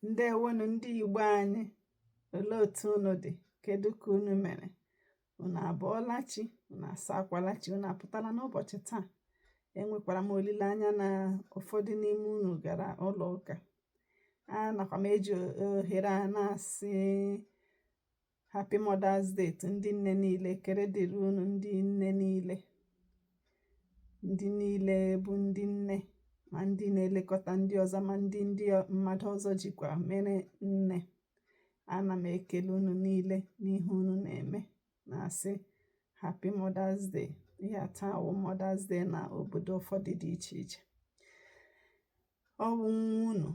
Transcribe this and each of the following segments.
ǹdeèwonù ndị ìgbo anyị òlee òtù unù dì kedu kà unù mèrè unù àbụọla chi unù àsaakwala chi unù àpụtala n'ụbọ̀chị̀ taa enwèkwàrà m òlilèanya nà ụ̀fọdụ n'ime unù gàrà ụlọ̀ ụkà anàkwà m ejì òhèrè a na-àsị Happy Mother's Day to ndị nne niile ekele dịrị unu ndị nne niile ndị niile bụ ndị nne ma ndị na-elekọta ndị ọzọ ma ndị ndị mmadụ ọzọ jikwa mere nne ana m ekele unu niile n'ihe unu na-eme na-asị Happy Mother's Day ihe taa wụ Mother's Day na obodo ụfọdụ dị iche iche ọ bụ nwa unu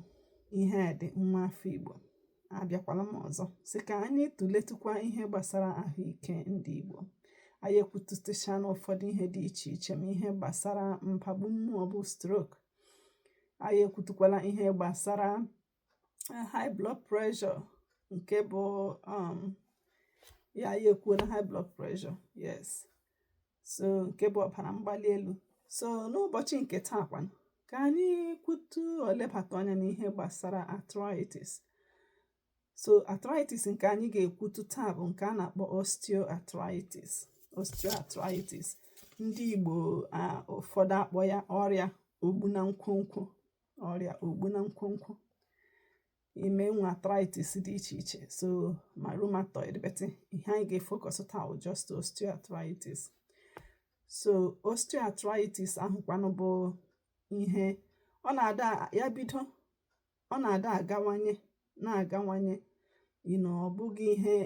Iheadị nwa afọ Igbo abịakwala m ọzọ sị ka anyị tụletụkwa ihe gbasara ahụike ndị Igbo anyị ekwutụtụcha na ụfọdụ ihe dị iche iche ma ihe gbasara mpagbu mmụọ bụ stroke anyị ekwutụkwala ihe gbasara eh, high blood pressure nke bụ um, yeah anyị ekwuola high blood pressure yes so nke bụ ọbara mgbali elu so n'ụbọchị nke taa kwanụ ka anyị kwutuo lebata anya n'ihe gbasara arthritis so arthritis nke anyị ga-ekwutu taa bụ nke a na-akpọ osteoarthritis osteoarthritis ndị Igbo ụfọdụ akpọọ ya ọrịa ogbu na nkwonkwo ọrịa ogbu na nkwonkwo ị ma e nwe arthritis dị iche iche so ma rheumatoid but ihe anyị ga-efokọs taa bụ just osteoarthritis so osteoarthritis ahụkwanụ bụ ihe ọ na-ada ya bido ọ na-adị agawanye na-agawanye you know ọ bụghị ihe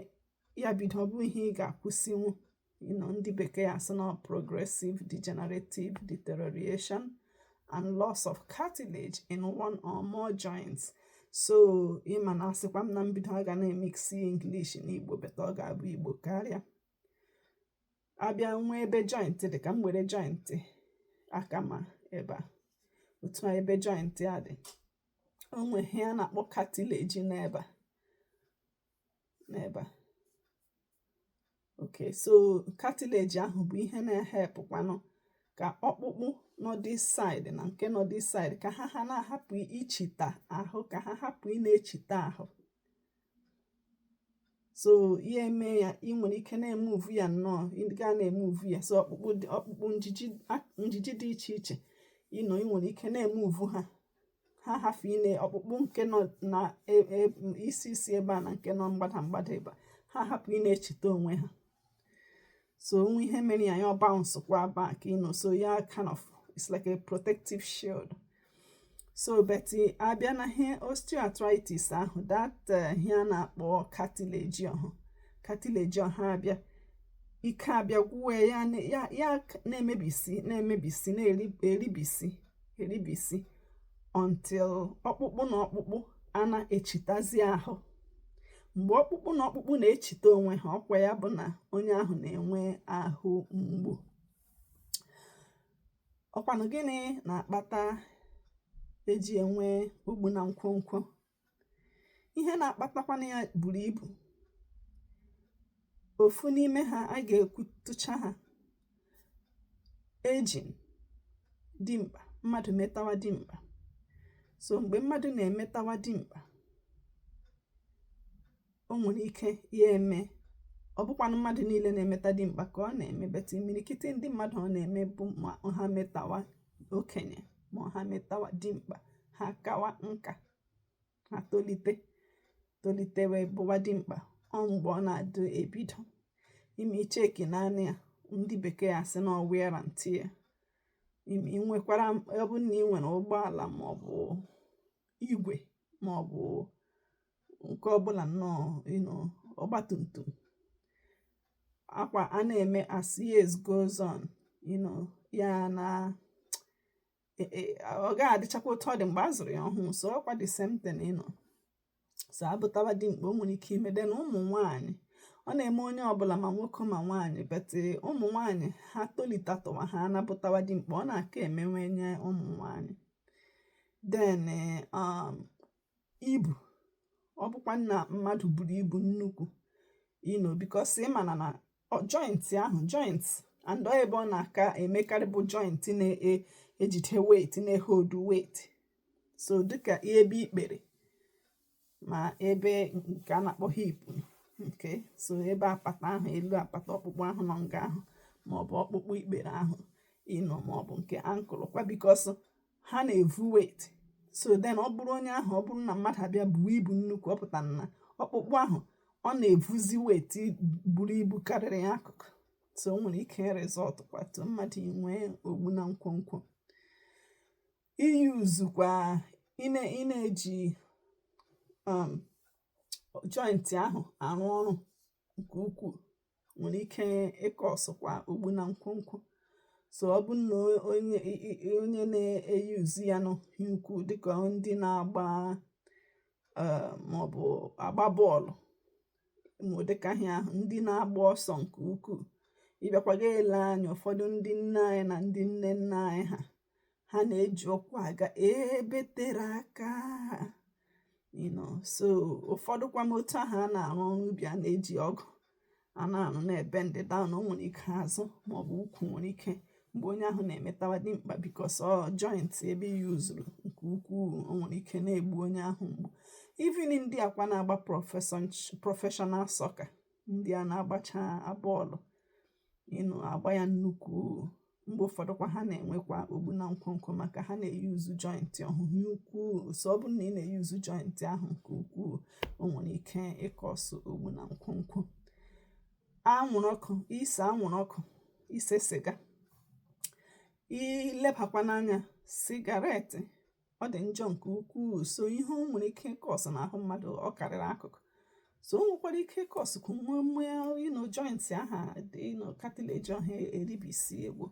ya bido ọ bụghị ihe ị ga-akwụsịnwu you know, ndị bekee asị na progressive degenerative deterioration and loss of cartilage in one or more joints so ị ma na asịkwa m na mbido a ga na-emiksi English na Igbo but ọ ga-abụ Igbo karịa a bịa nwee ebe joint dị ka m were joint aka m ebe a otu a ebe joint a dị o nwe ihe a na-akpọ cartilage n'ebe a n'ebe a okay so cartilage ahụ bụ ihe na-ehelpụkwanụ ka ọkpụkpụ nọ this side na nke nọ this side ka ha ha na-ahapụ ichita ahụ ka ha hapụ ịna-echita ahụ so ihe eme ya ị nwere ike na-emuvu ya nnọọ ga na-emuvu ya so ọkpụkpụ ọkpụkpụ njiji dị iche iche you know ị nwere ike na-emuvu ha ha hafụ ile ọkpụkpụ nke nọ na e, e, isi isi ebe a na nke nọ mgbada mgbada ebe a ha hapụ ị na-echita onwe ha so o nwee ihe mere ya ya abounce kwa back you know so ya kind of it's like a protective shield so but eh, abịa na ihe osteoarthritis ahụ that eh, ihe a na-akpọ cartilage ahụ cartilage ahụ abịa ike abịa gwụwe ya na-emebisi na-emebisi na-eribisi eribisi until ọkpụkpụ na ọkpụkpụ ana-echitazi ahụ mgbe ọkpụkpụ na ọkpụkpụ na-echita onwe ha ọkwa ya bụ na onye ahụ na-enwe ahụ mgbu ọ kwanụ gịnị na-akpata e ji enwe ogbu na nkwonkwo ihe na-akpatakwana ya buru ibu ofu n'ime ha a ga-ekwutụcha ha age dimkpa mmadụ metawa dimkpa so mgbe mmadụ na-emetawa dimkpa o nwere ike ya eme ọ bụkwanụ mmadụ niile na-emeta dimkpa ka ọ na-eme but imirikiti ndị mmadụ ọ na-eme bụ ma ha metawa okenye ma ha metawa dimkpa ha kawa nka ha tolite tolite wee bụwa dimkpa ọ mgbe ọ na-adị ebido ime icheki naanị ya ndị bekee asị na wear and tear ị nwekwara ọ bụrụ na ị nwere ụgbọala maọbụ igwe maọbụ nke ọbụla nnọọ you know ọgba tum tum akwa a na-eme as years goes on you know ya na e, e, ọ gaghị adịchakwa otu ọ dị mgbe a zụrụ ya ọhụụ so ọkwa the same thing you know so a bụtawa dimkpa o nwere ike ime then ụmụ nwanyị ọ na-eme onye ọbụla ma nwoke ma nwaanyị but eh, ụmụ nwaanyị ha tolitatụwa ha ana-abụtawa dimkpa ọ na-aka eme nwanyị ụmụ nwaanyị then eh, um, ibu ọ bụkwa na mmadụ buru ibu nnukwu you know because ị mana na joint ahụ joint and ọ ebe ọ na-aka emekarị bụ joint na-ejide e, weight na-ehold weight so dịka ebe ikpere ma ebe nke a na-akpọ hip nke so ebe apata ahụ elu apata ọkpụkpụ ahụ nọ nga ahụ maọbụ ọkpụkpụ ikpere ahụ you know maọbụ nke ankle kwa because ha na-evu weight so then ọ bụrụ onye ahụ ọ bụrụ na mmadụ abịa buo ibu nnukwu ọ pụtara na ọkpụkpụ ahụ ọ na-evuzi weight buru ibu karịrị ya akụkụ so o nwere ike result kwa to mmadụ inwe ogbu na nkwonkwo iuse kwa ị na-eji um, joint ahụ arụ ọrụ nke ukwuu nwere ike ịkọsụkwa ogbu na nkwonkwo so ọ bụ na onye onye na-eyuzi ya nnukwu dịka ndị na-agba eh, maọbụ agba bọọlụ dịka ha ahụ ndị na-agba ọsọ nke ukwuu ị bịakwa ga-ele anya ụfọdụ ndị nne anyị na ndị nne nna anyị ha ha na-eji ụkwụ aga ebe tere aka you know so ụfọdụkwanụ otu ahụ a na-arụ ọrụ ubi a na-eji ọgụ a na-arụ na-ebendị daụn o nwere ike azụ maọbụ ukwu nwere ike mgbe onye ahụ na-emetawa dimkpa bikos ọ jointị ebe e yuzuru nke ukwuu o nwere ike na-egbu onye ahụ mgbu even ndị a kwa na-agba prọfeshọnal sọka ndị a na-agbacha bọọlụ you know agba ya nnukwu mgbe ụfọdụ kwa ha na-enwekwa ogbu na nkwonkwo maka ha na-eyuzu jọịntị ọhụ nnukwu so ọ bụrụ na ị na-eyuzu jọịntị ahụ nke ukwuu o nwere ike ịkọsụ ogbu na nkwonkwo anwụrụ ọkụ ise anwụrụ ọkụ ise siga i lebakwanụ anya sigaretị ọ dị njọ nke ukwuu so ihe o nwere ike ịkọsụ n'ahụ mmadụ ọ karịrị akụkọ so o nwekwara ike ịkọsụ ka o nwee um you know jointị ahụ you know katileji ọhụ eribisie gboo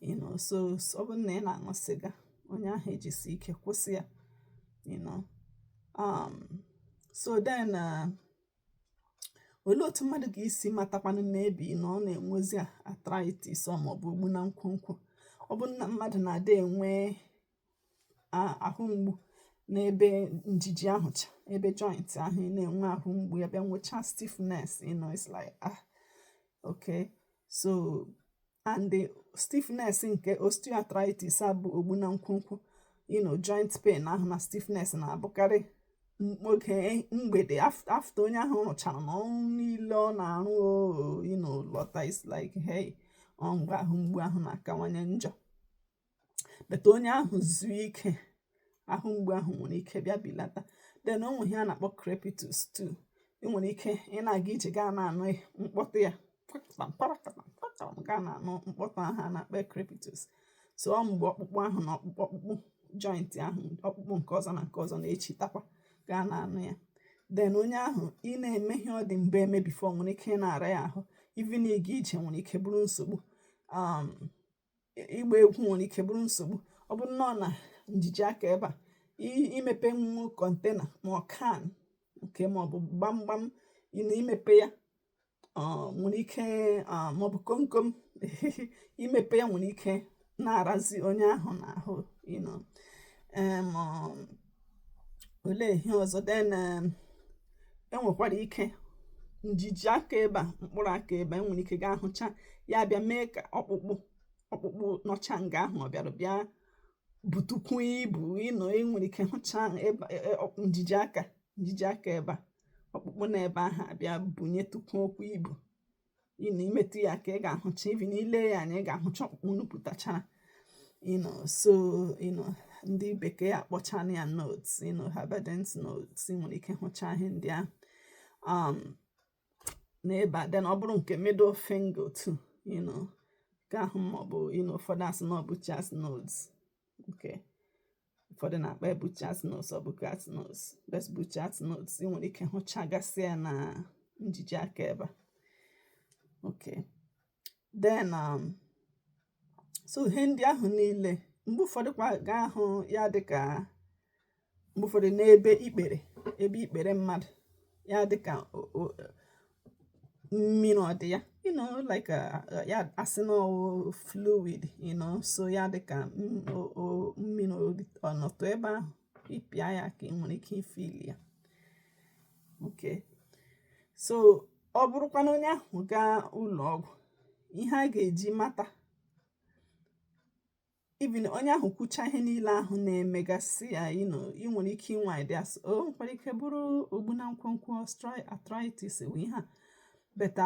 you know so ọ bụrụ na ị na-aṅụ sịga onye ahụ ejisie ike kwụsị ya you know um, so then uh, olee otu mmadụ ga-esi matakwanụ maybe na ọ na-enwezi arthritis ọ maọbụ ogbu na nkwonkwo ọ bụrụ na mmadụ na-adị enwe ahụ mgbu n'ebe njiji ahụ cha ebe joint ahụ ị na-enwe ahụ mgbu ya bịa nwechaa stiffness you know it's like ah okay so and the stiffness nke osteoarthritis a bụ ogbu na nkwonkwo you know joint pain ahụ na stiffness na-abụkarị oge mgbede afta onye ahụ rụcharana ọrụ niile ọ na-arụ you know lọta it's like hey ọ mgbe ahụ mgbu ahụ na-akawanye njọ but onye ahụ zuo ike ahụ mgbu ahụ nwere ike bịa bilata den o nwere ihe a na-akpọ crepitus too ị nwere ike ị na-aga ije gị a na-anụ mkpọtụ ya gị a na-anụ mkpọtụ ahụ a na-akpọ crepitus so ọ mgbe ọkpụkpụ ahụ na ọkpụkpụ ọkpụkpụ joint ahụ ọkpụkpụ nke ọzọ na nke ọzọ na-echitakwa gị a na-anụ ya den onye ahụ ị na-eme ihe ọ dị mbụ eme bifo nwere ike ị na-ara ya ahụ ivin ịga ije nwere ike bụrụ nsogbu um, ịgba egwu nwere ike bụrụ nsogbu ọ bụrụ na ọ na njiji aka ebe a imepenwu kọntena ma ọ kan nke ma ọ bụ gbamgbam na imepe ya nwere ike ma ọ bụ komkom imepe ya nwere ike na-arazi onye ahụ n'ahụ you know olee ihe ọzọ then um, enwekwara ike njiji aka ebe a mkpụrụ aka ebe enwere ike gaa hụcha ya bịa mee ka ọkpụkpụ ọkpụkpụ nọcha nga ahụ ọ bịara bịa butukwu ibu you know enwere ike hụcha e, e, njiji aka njiji aka ebe a ọkpụkpụ na ebe ahụ abịa bunyetukwu okwu ibu you know imetụ ya aka ị ga-ahụcha even ile ya anya ị ga-ahụcha ọkpụkpụ nupụtachara you know so you know ndị bekee akpọchana ya nodes you know Heberden's nodes ị nwere ike hụcha ihe ndị ahụ um, n'ebe a then ọ bụrụ nke middle finger too you know nke ahụ maọbụ you know ụfọdụ asị na ọ Bouchard's nodes okay ụfọdụ na-akpọ ya Bouchard's nodes or Bouchard's nodes but Bouchard's nodes ị nwere ike hụchagasị ya na njiji aka ebe a okay then um, so ihe ndị ahụ niile mgbe ụfọdụ kwa ga-ahụ ya dịka mgbe ụfọdụ n'ebe ikpere ebe ikpere mmadụ ya dịka mmiri ọ dị ya you know like uh, uh, ya asị na fluid you know so ya dị ka mmiri ọ nọtụ ebe ahụ ịpịa ya aka ị nwere ike ifeel ya okay so ọ bụrụkwa na onye ahụ gaa ụlọ ọgwụ ihe a ga-eji mata even onye ahụ kwucha ihe niile ahụ na-emegasị ya ị nwere ike inwe idea sị o nwekwara ike bụrụ ogbu na nkwonkwo osteoarthritis wụ ihe a but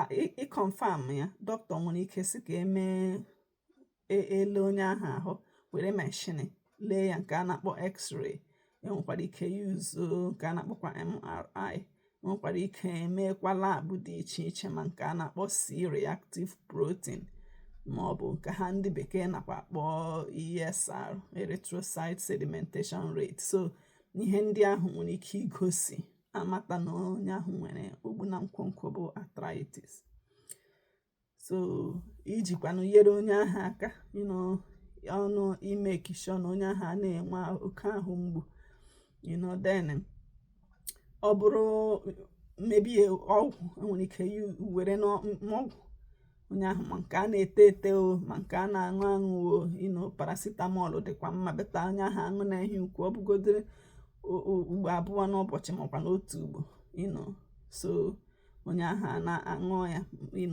ịconfirm ya dọkịta nwere ike sị ka emee e, ele onye ahụ ahụ were mashini lee ya nke a na-akpọ x-ray enwekwara ike use nke a na-akpọkwa MRI enwekwara ike emeekwa lab dị iche iche ma nke a na-akpọ C-reactive protein ma ọ bụ nke ha ndị bekee nakwa akpọ ESR erythrocyte sedimentation rate so ihe ndị ahụ nwere ike igosi amata na onye ahụ nwere ogbu na nkwonkwo bụ arthritis so ijikwanụ nyere onye ahụ aka you know ọ bụ ịmake sure na onye ahụ a na-enwe oke ahụ mgbu you know then ọ bụrụ maybe ọgwụ enwere ike were n'ọgwụ onye ahụ ma nke a na-ete ete o ma nke a na-aṅụ aṅụ o you know paracetamol dịkwa mma but onye ahụ aṅụna ihe ukwu ọ bụgodịrị ugbo abụọ n'ụbọchị makwanụ otu ugbo you know so onye ahụ a na-aṅụ ya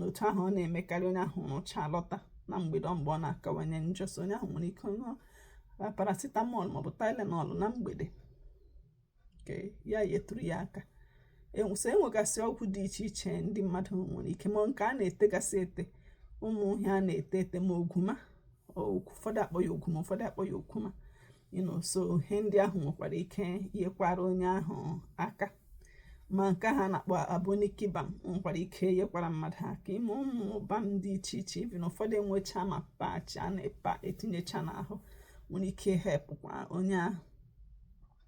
otu ahụ ọ na-emekarị onye ahụ rụcha lọta na mgbede mgbe ọ na-akawanye njọ so onye ahụ nwere ike ṅụọ paracetamol maọbụ tylenol na mgbede ka ya yetụrụ ya aka e, so enwegasị ọgwụ dị iche iche ndị mmadụ nwere ike ma nke a na-etegasị ete ụmụ ihe a na-ete ete ma ogwuma ụfọdụ akpọ ya ogwuma ụfọdụ akpọ ya okwuma you know so ihe ndị ahụ nwekwara ike yekwara onye ahụ aka ma nke ha na-akpọ Aboniki balm nwekwara ike yekwara mmadụ aka ime ụmụ balm dị iche iche even ụfọdụ enwecha ma patch a na-epa etinyecha n'ahụ nwere ike hepụkwa onye ahụ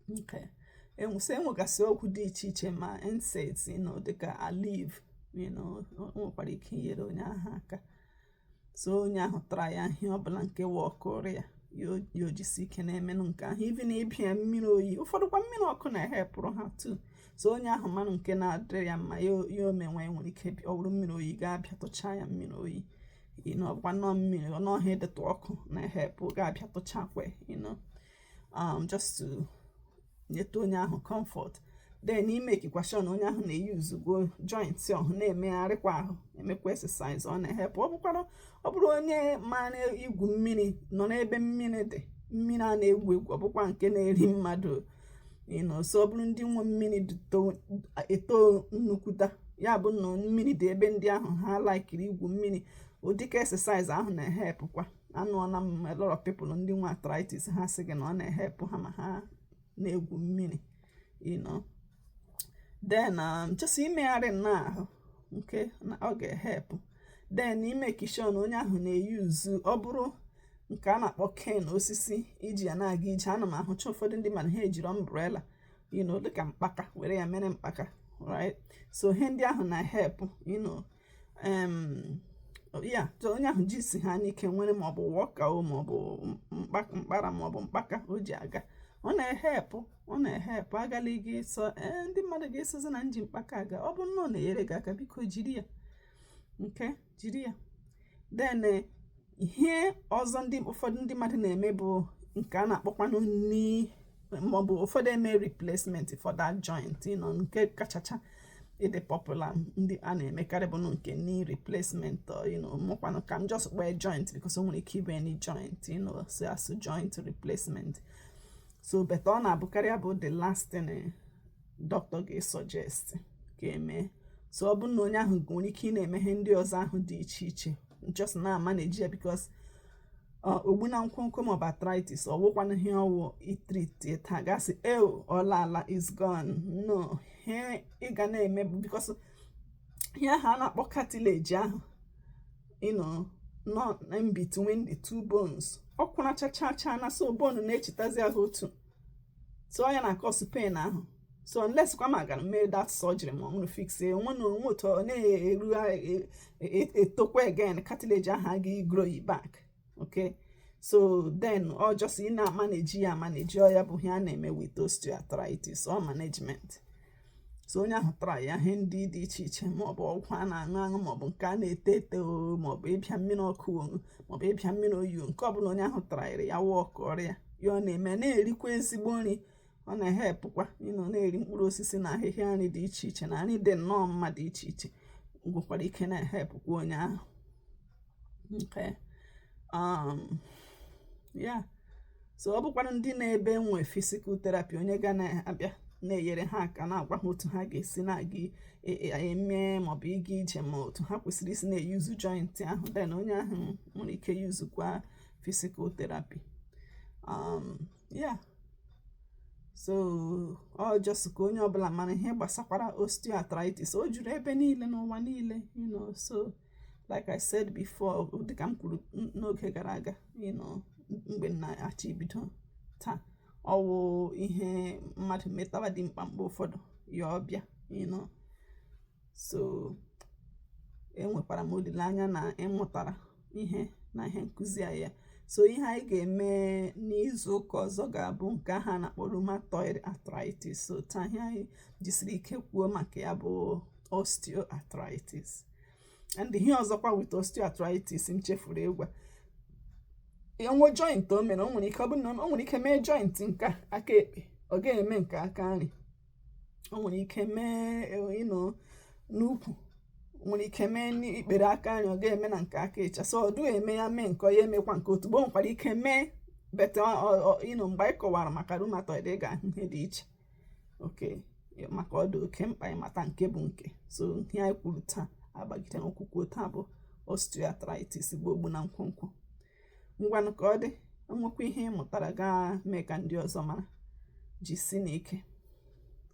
you know so enwegasị ọgwụ dị iche iche ma NSAIDs you know dịka Aleve nwekwara ike inyere onye ahụ aka so onye ahụ traịa ihe ọbụla nke wọkụrụ ya ya o jisie ike na-emenụ nke ahụ even ịbịa ya mmiri oyi ụfọdụkwa mmiri ọkụ na-ehepụrụ ha too so onye ahụ manụ nke na-adịrị ya mma ya o mewe nwere ike ọ bụrụ mmiri oyi gị abịatụchaa ya mmiri oyi you know ọgwa nnọọ mmiri nnọọ ihe dịtụ ọkụ na-ehepụ gị abịatụchakwa you know um, just to nyeta onye ahụ comfort then imekikwa sure na onye ahụ na-eyuzukwa joints ọhụ na-emegharịkwa ahụ emekwa exercise ọ na-ehepụ ọ bụkwara ọ bụrụ onye mara igwu mmiri nọ n'ebe mmiri dị mmiri a na-egwu egwu ọ bụkwa nke na-eri mmadụ you know so ọ bụrụ ndị nwe mmiri eto nnukwuta ya bụ na mmiri dị ebe ndị ahụ ha laikiri igwu mmiri dịka exercise ahụ na-ehepụkwa anụọla m a lot of people ndị nwe arthritis ha sị gị na ọ na-ehepụ ha ma ha na-egwu mmiri you know then um, just imegharị nnọọ ahụ nke ọ ga-ehepụ then imeki sure na onye ahụ na-eyuzu ọ bụrụ nke a na-akpọ cane osisi iji ya na-aga ije ana m ahụcha ụfọdụ ndị mmadụ ha ejiri umbrella you know dịka mkpaka were ya mere mkpaka right so ihe ndị ahụ na-ehepụ you know ya so onye ahụ jisi ha n'ike were maọbụ walker o maọbụ mkpara maọbụ mkpaka o ji aga ọ na-ehepụ ọ na-ehepụ agala ga sị ee ndị mmadụ ga-asịzi na m ji mkpaka aga ọ bụ na ọ na-enyere gị aka biko jiri ya you know jiri ya then ihe ọzọ ụfọdụ ndị mmadụ na-eme bụ nke a na-akpọkwanụ knee maọbụ ụfọdụ eme replacement for that joint you know nke kachacha ịdị popular ndị a na-emekarị bụ nke knee replacement mụkwanụ ka m just kpee joint because o nwere ike ịbụ any joint you know so a sị joint replacement so but ọ na-abụkarị bụ the last thing eh, doctor ga-esuggest ka e mee so ọ bụrụ na onye ahụ nwere ike ị na-eme ihe ndị ọzọ ahụ dị iche iche just na manage ya because uh, ogbu na nkwonkwo maọbụ arthritis ọ wụkwanụ ihe ọ wụ i treat taa gị asị e ọ laala is gone no ihe ị ga na-eme because ihe ahụ a na-akpọ cartilage ahụ you know nọ in between the two bones ọ kwụnachachacha na so bone na-echitazi ahụ otu so ọ ya na-akọsụ pain ahụ so unless kwa ma a gara mee that surgery ma ọ bụrụ fix onwe na onwe otu ọ na-eru e, e, etokwa again cartilage ahụ aga grow it back okay so then ọ just ị na-amaneji ya amaneji ọ ya bụ ihe a na-eme with osteoarthritis ọ management so onye ahụ traya ihe ndị dị iche iche maọbụ ọgwụ a na-aṅụ aṅụ maọbụ nke a na-ete ete maọbụ ịbịa mmiri ọkụ maọbụ ịbịa mmiri oyi nke ọbụla onye ahụ trayịrị ya wọọkụọra ya ọ na-eme na-erikwa ezigbo nri ọ na-ehepụkwa you know na-eri mkpụrụ osisi na ahịhịa nri dị iche iche na nri dị nnọọ mma dị iche iche nwekwara ike na-ehepụkwa onye ahụ nke um, yeah so ọ bụkwara ndị nọ ebe nwe physical therapy onye ga na-abịa na-enyere ha aka na-agwa ha otu ha ga-esi na-aga e, e, eme maọbụ ịga ije ma otu ha kwesịrị isi na-eyuzu joint ahụ then onye ahụ nwere ike yuzukwa physical therapy um, yeah so ọ just ka onye ọbụla mara ihe gbasakwara osteoarthritis o juru ebe niile n'ụwa niile you know so like i said before dịka m kwuru n'oge gara aga you know mgbe m na-achọ ibido taa ọ wụ ihe mmadụ metawa dimkpa mgbe ụfọdụ ya ọ bịa you know so enwekwara m olileanya na ị mụtara ihe na ihe nkụzi a yeah so ihe anyị ga-eme n'izu ụka ọzọ ga-abụ nke a ha na-akpọ rheumatoid arthritis so taa ihe anyị jisiri ike kwuo maka ya bụ osteoarthritis and ihe ọzọkwa with osteoarthritis m chefuru ịgwa unu wụ joint o mere o nwere ike ọ bụrụ na o nwere ike mee joint nke aka ekpe ọ ga-eme nke aka nri o nwere ike mee you know e, n'ukwu nwere ike mee n'ikpere aka nri ọ ga-eme na nke aka ịcha so ọ dụghị eme ya mee nke a ya emekwa nke otu but o nwekwara ike mee but you know mgbe anyị kọwara maka rheumatoid ị ga-ahụ ihe dị iche okay maka ọ dị oke mkpa ịmata nke bụ nke so ihe anyị kwuru taa agbagide n'okwukwu taa bụ osteoarthritis bụ ogbu na nkwonkwo ngwanụ ka ọ dị o nwekwa ihe ị mụtara gaa mee ka ndị ọzọ mara jisinụ ike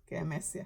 ka emesịa